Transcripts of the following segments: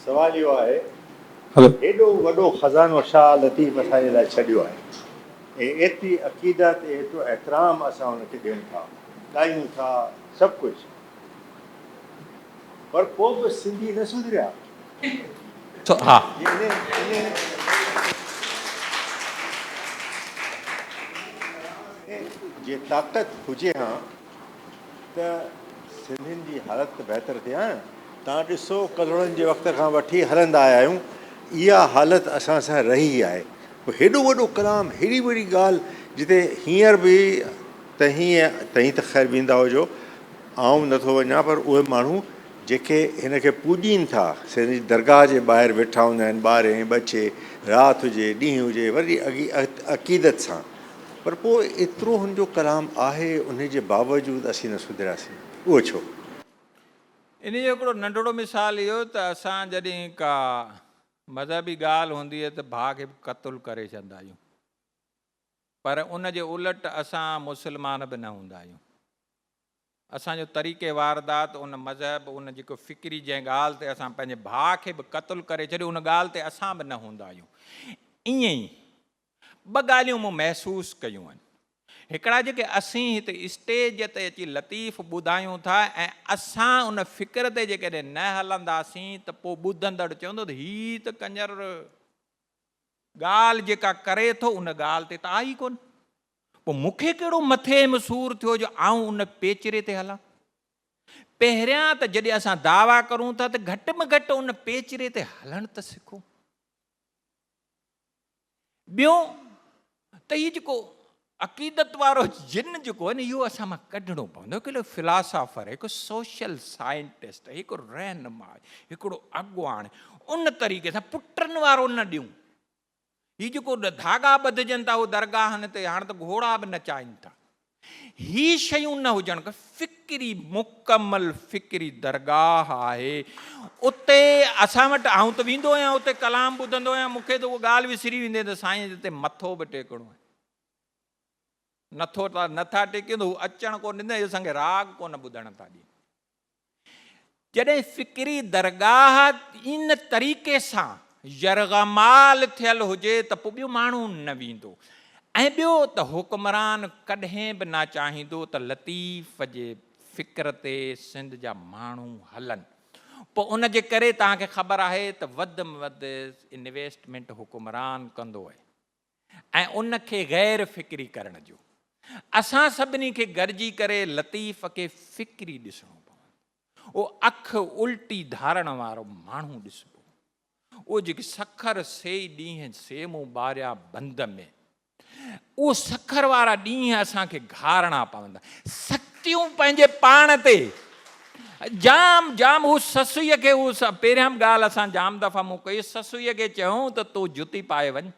سوال اهو آهي ته هيڏو وڏو خزانو شاهه لطيف اسان جي لاء ڇڏيو آهي ۽ ايتري عقيدت ۽ ايترو احترام اسان ان کي ڏيون ٿا، ڳايون ٿا، سڀ ڪجهه پر پوء به سنڌي نه سڌريا جي طاقت هجي هان. ته سنڌين جي حالت ته بهتر ٿئي ها نه. تان ڏسو ڪلهوڙن جي وقت کان وٺي هلندا آيا آهيون اها حالت اسان سان رهي آهي پوء هيڏو وڏو ڪلام هيڏي وڏي ڳالهه جتي هينئر به تهين تهين ته خير ويندا هجو آئون نه ٿو وڃان پر اهي ماڻهو جيڪي هن کي پوڄين ٿا سنڌين جي درگاهه جي ٻاهر ويٺا هوندا آهن ٻارهين ٻچي رات هجي ڏينهن هجي وري عقيدت سان پر پوء ايترو هن جو ڪلام آهي، انهي جي باوجود اسين نه سڌرياسين، اهو ڇو؟ انهي جو هڪڙو ننڍڙو مثال اهو ته اسان جڏهن ڪا مذهبي ڳالهه هوندي ته ڀاء کي به قتل ڪري ڇڏندا آهيون، پر ان جي الٽ اسان مسلمان به نه هوندا آهيون. اسان جو طريقه واردات، ان مذهب، ان جيڪو فڪري جنهن ڳالهه تي اسان پنهنجي ڀاء کي به قتل ڪري ڇڏيو ان ڳالهه تي اسان به نه هوندا آهيون. ائين ئي ٻه ڳالهيون مون محسوس ڪيون آهن. هڪڙا جيڪي اسين هت اسٽيج تي اچي لطيف ٻڌايون ٿا ۽ اسان ان فڪر تي جيڪڏهن نه هلنداسين ته پوء ٻڌندڙ چوندو ته هي ته ڪنجر ڳالهه جيڪا ڪري ٿو ان ڳالهه تي ته آء ئي ڪونه. پوء مون کي ڪهڙو مٿي ۾ سور ٿيو جو آئون ان پيچري تي هلان. پهريان ته جڏهن اسان دعويٰ ڪرون ٿا ته گهٽ ۾ گهٽ ان پيچري تي هلڻ ته سکو. ٻيو ته هي جيڪو عقيدت وارو جن جيڪو آهي نه اهو اسان مان ڪڍڻو پوندو. هڪ فلاسافر، هڪ سوشل سائنٽسٽ، هڪ رهنما، هڪڙو اڳواڻ ان طريقي سان پٽن وارو نه ڏيون. هي جيڪو ڌاڳا ٻڌجن ٿا اهو درگاهن تي هاڻ ته گهوڙا به نچائين ٿا. هي شيون نه هجڻ کپن. فڪري مڪمل فڪري درگاهه آهي. اتي اسان وٽ آئون ته ويندو آهيان اتي ڪلام ٻڌندو آهيان مون کي ته اها ڳالهه وسري ويندي ته سائين جي اتي مٿو به ٽيڪڻو آهي. نٿو نه ٿا ٽيڪيون ته هو اچڻ ڪونه ڏيندا اهي اسان کي راڳ ڪونه ٻڌڻ ٿا ڏين. جڏهن فڪري درگاهه ان طريقي سان يرغمال ٿيل هجي ته پوء ٻيو ماڻهو نه ويندو ۽ ٻيو ته حڪمران ڪڏهن به نه چاهيندو ته لطيف جي فڪر تي سنڌ جا ماڻهو هلن پوء ان جي ڪري توهان کي خبر آهي ته وڌ م وڌ انويسٽمينٽ حڪمران ڪندو ۽ ۽ ان کي غير فڪري ڪرڻ جو. اسان سڀني کي گڏجي ڪري لطيف کي فڪري ڏسڻو پوندو. اهو اک الٽي ڌارڻ وارو ماڻهو ڏسبو. اهو جيڪي سکر سي ئي ڏينهن سي مون ٻاريا بند ۾. اهو سکر وارا ڏينهن اسان کي گهارڻا پوندا. سختيون پنهنجي پاڻ تي. جام جام هو سسئيء کي هو پهريام ڳالهه اسان جام دفعا مون ڪئي سسئيء کي چيائون ته تو جتي پائي وڃ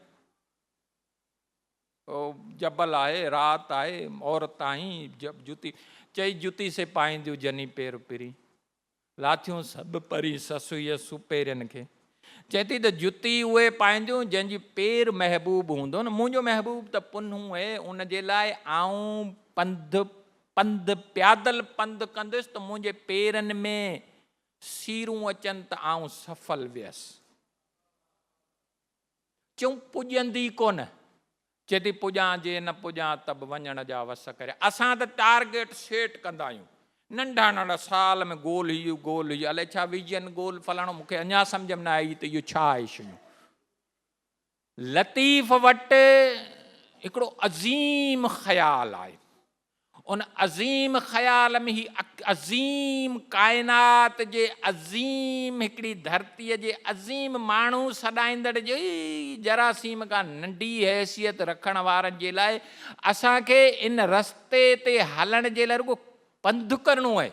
جبل آهي رات آهي عورت آهين جتي چئي جتي سي پائينديون جني پير پري لاٿيون سڀ پري سسئيء سپيرين کي چئي ٿي ته جتي اهي پائينديون جنهن جي پير محبوب هوندو نه منهنجو محبوب ته پنهون اهي ان جي لاء آئون پنڌ پنڌ، پيادل پنڌ ڪندس ته منهنجي پيرن ۾ سيرون اچن ته آئون سڦل ويس. چيون پڄندي ڪونه. چئي ٿي پڄان جي نه پڄان ته به وڃڻ جا وس ڪري. اسان ته ٽارگيٽ سيٽ ڪندا آهيون. ننڍا ننڍا سال ۾ گول هي گول هي الائي ڇا ويزن گول فلاڻو مون کي اڃا سمجهه ۾ نه آئي ته اهو ڇا آهي شيون. لطيف وٽ هڪڙو عظيم خيال آيو. ان عظيم خيال ۾ هي عظيم ڪائنات جي عظيم هڪڙي ڌرتيء جي عظيم ماڻهو سڏائيندڙ جي جراثيم کان ننڍي حيثيت رکڻ وارن جي لاء اسان کي ان رستي تي هلڻ جي لاء رڳو پنڌ ڪرڻو آهي.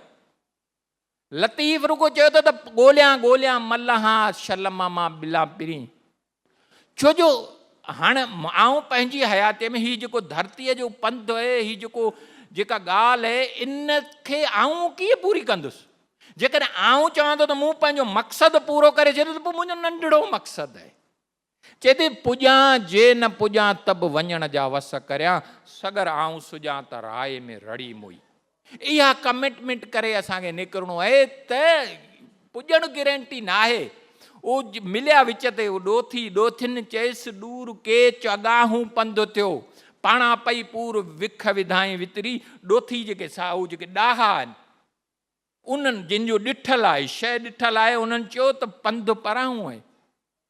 لطيف رڳو چيو ٿو ته ڳوليان ڳوليان مل ها شل مان مان ٻلا پرين ڇو جو هاڻ آئون پنهنجي حياتي ۾ هي جيڪو ڌرتيء جو پنڌ اهي هي جيڪو جيڪا ڳالهه اهي ان کي آئون ڪيئن پوري ڪندس جيڪڏهن آئون چوان ٿو ته مون پنهنجو مقصد پورو ڪري ڇڏيو ته پوء منهنجو ننڍڙو مقصد اهي چئي ٿي پڄان جي نه پڄان ته به وڃڻ جا وس ڪريان سڳر آئون سجان ته راء ۾ رڙي موئي اها ڪمٽمنٽ ڪري اسان کي نڪرڻو اهي ته پڄڻ گرينٽي ناهي او مليا وچ تي او ڏوٿي ڏوٿين چيس ڏور ڪيچ اڳاهون پنڌ ٿيو پاڻان پئي پور وک وڌائين وتري ڏوٿي جيڪي ساهو جيڪي ڏاها آهن انهن جن جو ڏٺل آهي شيء ڏٺل آهي انهن چيو ته پنڌ پرانهون اهي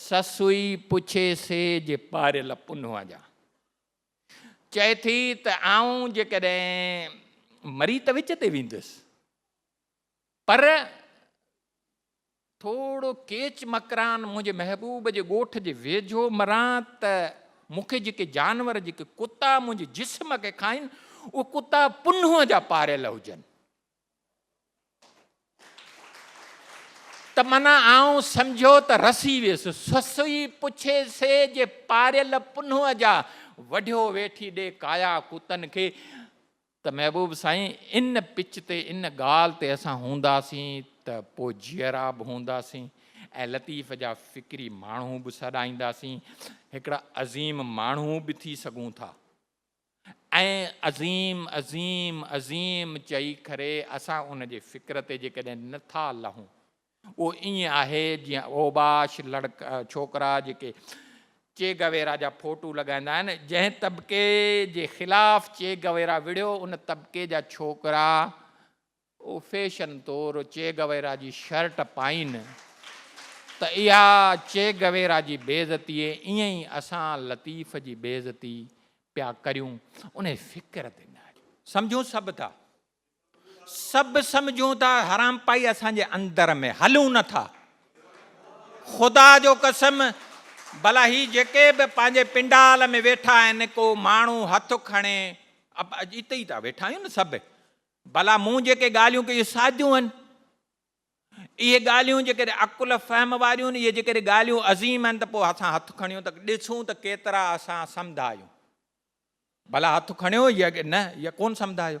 سسئي پڇي سي جي پاريل پنهونء جا. چئي ٿي ته آئون جيڪڏهن مري ته وچ تي ويندس، پر ٿورو ڪيچ مڪران منهنجي محبوب جي ڳوٺ جي ويجهو مران ته مون کي جيڪي جانور، جيڪي ڪتا منهنجي جسم کي کائين، اهي ڪتا پنهونء جا پاريل هجن. ته معنيٰ آئون سمجهيو ته رسي ويس. سسئي پڇي سي جي پاريل پنهونء جا وڍيو ويٺي ڏي ڪايا ڪتن کي ته محبوب سائين ان پچ تي ان ڳالهه تي اسان هونداسين ته پوء جيئرا به هونداسين ۽ لطيف جا فڪري ماڻهو به سڏائينداسين هڪڙا عظيم ماڻهو به ٿي سگهون ٿا. ائين عظيم عظيم عظيم چئي ڪري اسان ان جي فڪر تي جيڪڏهن نه ٿا لهون اهو ائين آهي جيئن اوباش لڙڪ ڇوڪرا جيڪي چي گويرا جا ڦوٽو لڳائيندا آهن جنهن طبقي جي خلاف چي گويرا وڙهيو ان طبقي جا ڇوڪرا هو فيشن طور چي گويرا جي شرٽ پائين ته اها چي گويرا جي بي عزتي ايئن ئي اسان لطيف جي بي عزتي پيا ڪريون انهي فڪر تي نه اچو. سمجهون سڀ ٿا سڀ سمجهون ٿا حرامپائي اسان جي اندر ۾ هلون نه ٿا خدا جو قسم ڀلا هي جيڪي به پنهنجي پنڊال ۾ ويٺا آهن ڪو ماڻهو هٿ کڻي اب اتي ئي ته ويٺا آهيون نه سڀ ڀلا مون جيڪي ڳالهيون ڪيون ساديون هن. اهي ڳالهيون جيڪڏهن عقل فهم واريون هن، اهي جيڪڏهن ڳالهيون عظيم هن ته پوء اسان هٿ کڻيون ته ڏسون ته ڪيترا اسان سمڌا آهيون. ڀلا هٿ کڻيو يا نه يا ڪونه سمڌا آهيو.